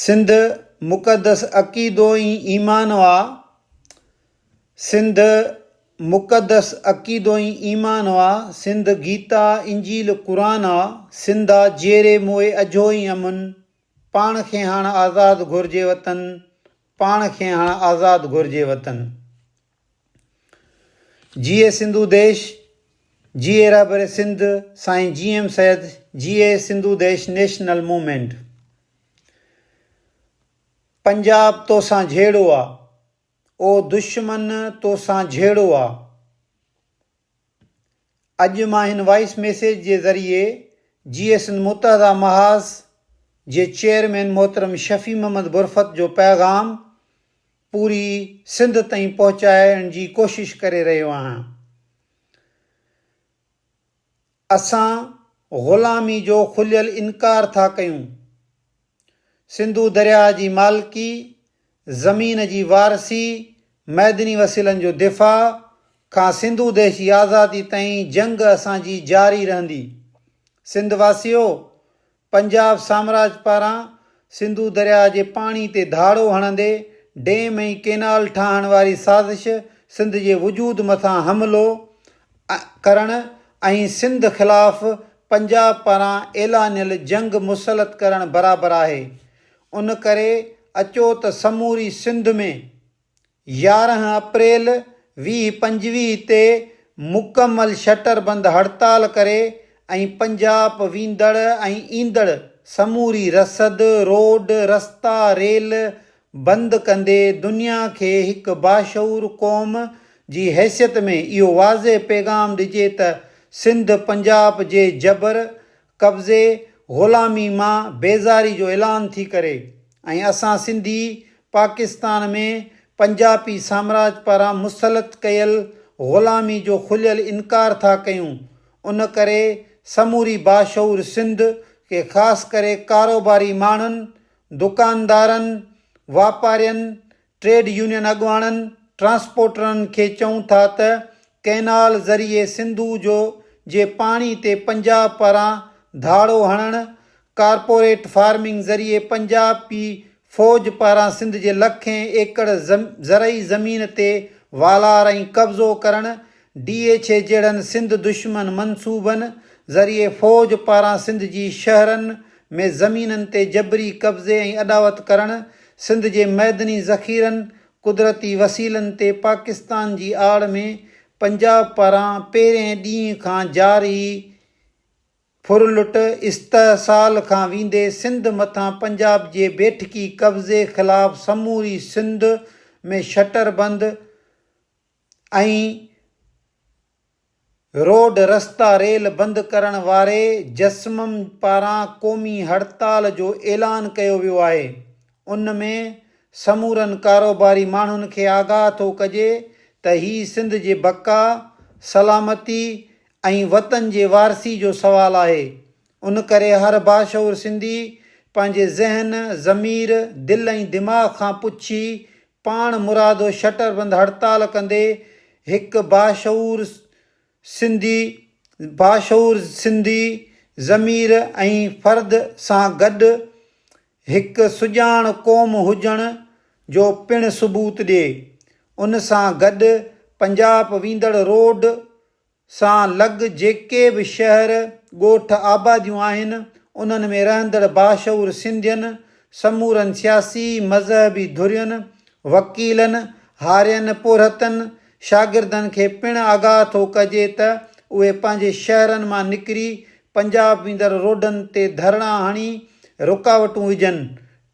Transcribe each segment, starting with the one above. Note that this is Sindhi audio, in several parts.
سنڌ مقدس عقيدو ئي ايمان آ سنڌ مقدس عقيدو ئي ايمان آ سنڌ گيتا انجيل قرآن آ سنڌ آ جيئري موئي اجهو ئي امن پاڻ کي هاڻ آزاد گهرجي وطن پاڻ کي هاڻ آزاد گهرجي وطن. جيئي سنڌو ديش جيئي رهبر سنڌ سائين جي ايم سيد جيئي سنڌو ديش نيشنل موومينٽ پنجاب توسان جهيڙو آ او دشمن توسان جهيڙو آ اڄ مان هن وائس ميسيج جي ذريعي جي اي سنڌ متحده محاذ جي چيئرمين محترم شفيع محمد برفت جو پيغام پوري سنڌ تائين پهچائڻ جي ڪوشش ڪري رهيو آهيان. اسان غلامي جو کليل انڪار ٿا ڪيون. سنڌو درياء جي مالڪي، زمين جي وارثي، معدني وسيلن جو دفاع کان سنڌو ديش جي آزادي تائين جنگ اسان جي جاري رهندي. سنڌ واسيو! پنجاب سامراج پاران سنڌو درياء جي پاڻي تي ڌاڙو هڻندي ڊيم ۽ ڪينال ٺاهڻ واري سازش سنڌ جي وجود مٿان حملو ڪرڻ ۽ سنڌ خلاف پنجاب پاران اعلانيل جنگ مسلط ڪرڻ برابر آهي ان ڪري اچو ته سموري سنڌ ۾ يارهن اپريل ويهه پنجويهه تي مڪمل شٽر بند هڙتال ڪري ۽ پنجاب ويندڙ ۽ ايندڙ سموري رسد، روڊ، رستا، ريل بند ڪندي دنيا کي هڪ باشعور قوم جي حيثيت ۾ اهو واضح پيغام ڏجي ته سنڌ پنجاب جي جبر، قبضي، غلامي مان بيزاري جو اعلان ٿي ڪري ۽ اسان سنڌي پاڪستان ۾ پنجاپي سامراج پاران مسلط ڪيل غلامي جو کليل انڪار ٿا ڪيون ان ڪري سموري باشعور سنڌ کي خاص ڪري ڪاروباري ماڻهن، دڪاندارن، واپارين، ٽريڊ يونين اڳواڻن ٽرانسپورٽرن کي چئون ٿا ته ڪئنال ذريعي سنڌو جو جي پاڻي تي پنجاب پاران ڌاڙو هڻڻ، ڪارپوريٽ فارمنگ ذريعي پنجاب پي فوج پاران سنڌ جي لکين ايڪڙ زرعي زمين تي والار ۽ قبضو ڪرڻ ڊي ايڇ اي جهڙن سنڌ دشمن منصوبن ذريعي فوج پاران سنڌ جي شهرن ۾ زمينن تي جبري قبضي ۽ اڏاوت ڪرڻ، سنڌ جي معدني ذخيرن، قدرتي وسيلن تي پاڪستان جي آڙ ۾ پنجاب پاران پهرئين ڏينهن کان جاري ڦرلٽ استحصال کان ويندي سنڌ مٿان پنجاب جي بيٺڪي قبضي خلاف سموري سنڌ ۾ شٽر بند ۽ روڊ رستا ريل بند ڪرڻ واري جسمم پاران قومي هڙتال جو اعلان ڪيو ويو آهي ان ۾ سمورن ڪاروباري ماڻهن کي آگاهه ٿو ڪجي ته هي سنڌ جي بقا، سلامتي ۽ وطن جي وارثي جو سوال آهي ان ڪري هر باشعور سنڌي پنهنجي ذهن، ضمير، دل ۽ دماغ کان پڇي پاڻ مرادو شٽر بند هڙتال ڪندي هڪ باشعور سنڌي باشعور سنڌي ضمير ۽ فرد سان گڏ هڪ سڄاڻ قوم هجڻ جو پڻ ثبوت ڏئي. ان سان گڏ پنجاب ويندڙ روڊ، سان لڳ جيڪي به شهر، ڳوٺ، آباديون آهن، انهن ۾ رهندڙ باشعور سنڌين، سمورن سياسي، مذهبي ڌرين، وڪيلن، هارين پورهتن، شاگردن کي پڻ آگاهه ٿو ڪجي ته اهي پنهنجي شهرن مان نڪري پنجاب ويندڙ روڊن تي ڌرڻا هڻي رڪاوٽون وجهن،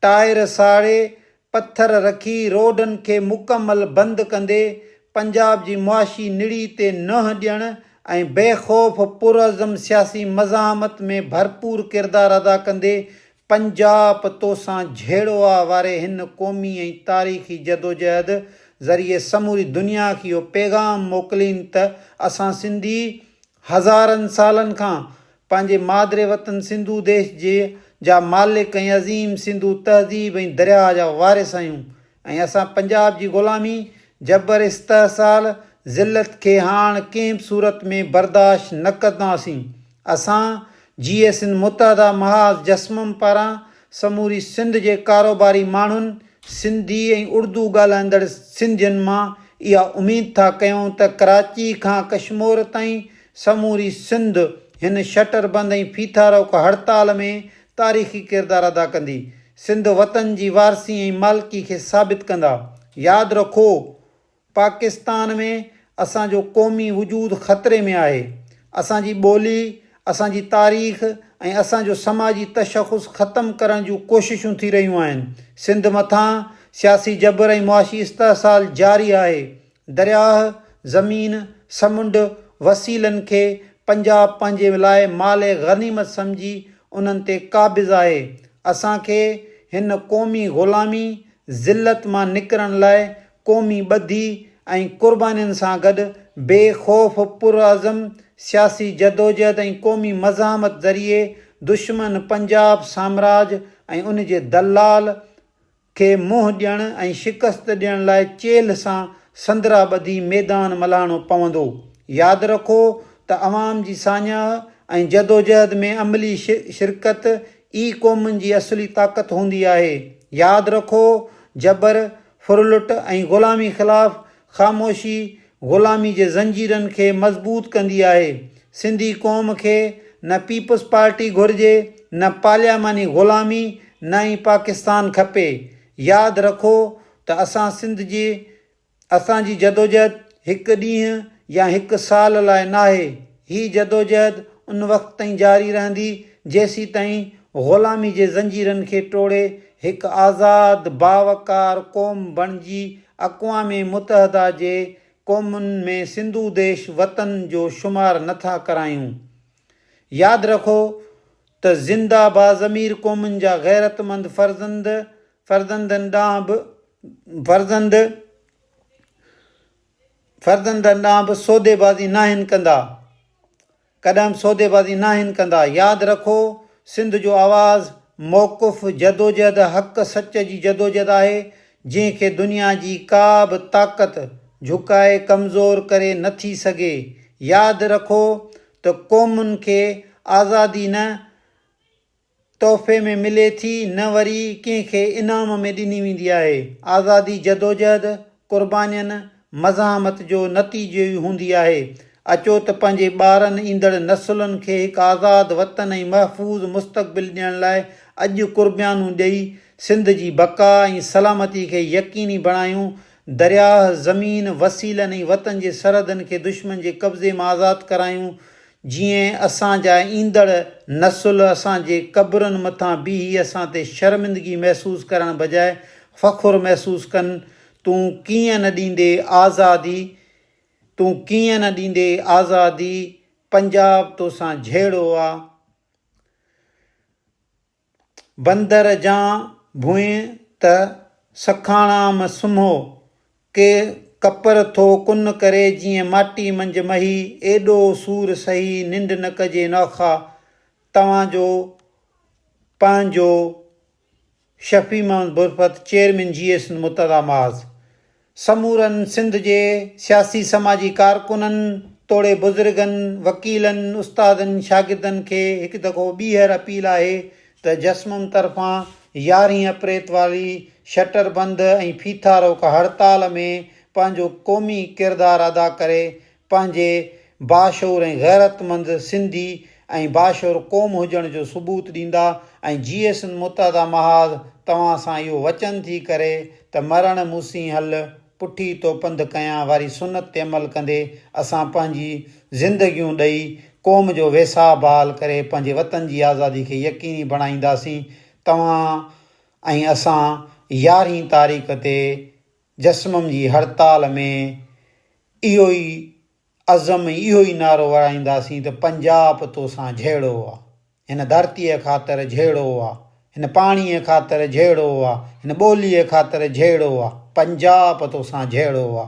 ٽائر ساڙي پٿر رکي روڊن کي مڪمل بند ڪندي پنجاب جي معاشي نڙي تي نهن ڏيڻ ۽ بي خوف پرعزم سياسي مزاحمت ۾ ڀرپور ڪردار ادا ڪندي پنجاپ توسان جهيڙو آ واري هن قومي ۽ تاريخي جدوجهد ذريعي سموري دنيا کي اهو پيغام موڪلين ته اسان سنڌي هزارن سالن کان پنهنجي مادري وطن سنڌو ديش جي جا مالڪ ۽ عظيم سنڌو تهذيب ۽ درياء جا وارث آهيون ۽ اسان پنجاب جي غلامي، جبر استحصال، ذلت کي هاڻ ڪنهن به صورت ۾ برداشت نه ڪنداسين. اسان جيئي سنڌ متحده محاذ جسمم پاران سموري سنڌ جي ڪاروباري ماڻهن، سنڌي ۽ اڙدو ڳالهائيندڙ سنڌين مان اها اميد ٿا ڪيون ته ڪراچي کان ڪشمور تائين سموري سنڌ هن شٽر بند ۽ ڦيٿا روڪ هڙتال ۾ تاريخي ڪردار ادا ڪندي. سنڌ وطن جي وارثي ۽ مالڪي کي ثابت ڪندا. ياد رکو پاڪستان ۾ اسان جو قومي وجود خطري ۾ آهي. اسان جي ٻولي، اسان جي تاريخ ۽ اسان جو سماجي تشخص ختم ڪرڻ جون ڪوششون ٿي رهيون آهن. سنڌ مٿان سياسي جبر ۽ معاشي استحصال جاري آهي. درياهه، زمين، سمنڊ، وسيلن کي پنجاب پنهنجي لاء مال غنيمت سمجهي انهن تي قابض آهي. اسان کي هن قومي غلامي، ذلت، مان نڪرڻ لاء قومي ٻڌي ۽ قربانين سان گڏ بي خوف، پرعزم سياسي جدوجهد ۽ قومي مزاحمت ذريعي دشمن پنجاب سامراج ۽ ان جي دلال کي منهن ڏيڻ ۽ شڪست ڏيڻ لاء چيلهه سان سندرا ٻڌي ميدان ملهاڻو پوندو. ياد رکو ته عوام جي ساڃاهه ۽ جدوجهد ۾ عملي شرڪت ئي قومن جي اصلي طاقت هوندي آهي. ياد رکو جبر، ڦرلٽ ۽ غلامي خلاف خاموشي غلامي جي زنجيرن کي مضبوط ڪندي آهي، سنڌي قوم کي نه پيپلز پارٽي گهرجي، نه پارلياماني غلامي، نه ئي پاڪستان کپي. ياد رکو ته اسان سنڌ جي اسان جي جدوجهد هڪ ڏينهن يا هڪ سال لاء ناهي، هي جدوجهد ان وقت تائين جاري رهندي جيسيتائين غلامي جي زنجيرن کي ٽوڙي هڪ آزاد باوقار قوم بڻجي اقوام متحده جي قومن ۾ سنڌو ديش وطن جو شمار نه ٿا ڪرايون. ياد رکو ته زنده باضمير قومن جا غيرتمند فرزند فرزندن ڏانهن به فرزند فرزندن ڏانهن به سوديبازي ناهن ڪندا. ڪڏھن سوديبازي ناھن ڪندا. ياد رکو سنڌ جو آواز موقف جدوجھد حق سچ جي جدوجھد آھي جنھن کي دنيا جي ڪا به طاقت جھڪائي ڪمزور ڪري نه ٿي سگھي ياد رکو ته قومن کي آزادي نه تحفي ۾ ملي ٿي نه وري ڪنهن کي انعام ۾ ڏني ويندي آهي. آزادي جدوجهد، قربانين، مزاحمت جو نتيجو ئي هوندي آهي. اچو ته پنهنجي ٻارن ايندڙ نسلن کي هڪ آزاد وطن ۽ محفوظ مستقبل ڏيڻ لاء اڄ قربيانون ڏئي سنڌ جي بقا ۽ سلامتي کي يقيني بڻايون درياهه، زمين، وسيلن ۽ وطن جي سرحدن کي دشمن جي قبضي مان آزاد ڪرايون، جيئن اسان جا ايندڙ نسل اسان جي قبرن مٿان بيهي اسان تي شرمندگي محسوس ڪرڻ بجاء فخر محسوس ڪن، تون ڪيئن نه ڏيندي آزادي، تون ڪيئن نه ڏيندي آزادي، پنجاب توسان جهيڙو آ. بندر جان ڀونء ته سکاڻام سمهو، ڪي ڪپر ٿو ڪن ڪري جيئن ماٽي منجهه مهي، ايڏو سور سهي ننڊ نه ڪجي نوخا، توهان جو پنهنجو شفيع محمد برفت چيئرمين جي اي سنڌ مرتضيٰ معاذ. سمورن سنڌ جي سياسي سماجي ڪارڪنن توڙي بزرگن، وڪيلن، استادن، شاگردن کي هڪ دفعو ٻيهر اپيل آهي ته جسمم طرفان يارهين اپريت واري شٽر بند ۽ ڦيٿارو ڪا هڙتال ۾ پنهنجو قومي ڪردار ادا ڪري پنهنجي باشعور ۽ غيرتمند سنڌي ۽ باشعور قوم هجڻ جو ثبوت ڏيندا ۽ جيئي سنڌ متحده محاذ توهان سان اهو وچن ٿي ڪري ته مرڻ مونسين هل پٺي تو پنڌ ڪيان واري سنت تي عمل ڪندي اسان پنهنجي زندگيون ڏئي قوم جو ويساهه بحال ڪري پنهنجي وطن جي آزادي کي يقيني بڻائينداسين توهان ۽ اسان يارهين تاريخ تي جسمم جي هڙتال ۾ اهو ئي عزم ۽ اهو ئي نعرو ورائينداسين ته پنجاب توسان جهيڙو آ، هن ڌرتيء خاطر جهيڙو آ، هن پاڻيء خاطر جهيڙو آ، هن ٻوليء خاطر جهيڙو آ، پنجاب توسان جهيڙو آ.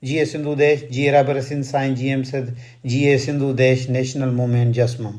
جيئي سنڌو ديش، جيئي رهبر سنڌ سائين جي ايم سڌ، جيئي سنڌو ديش نيشنل موومينٽ جسمم.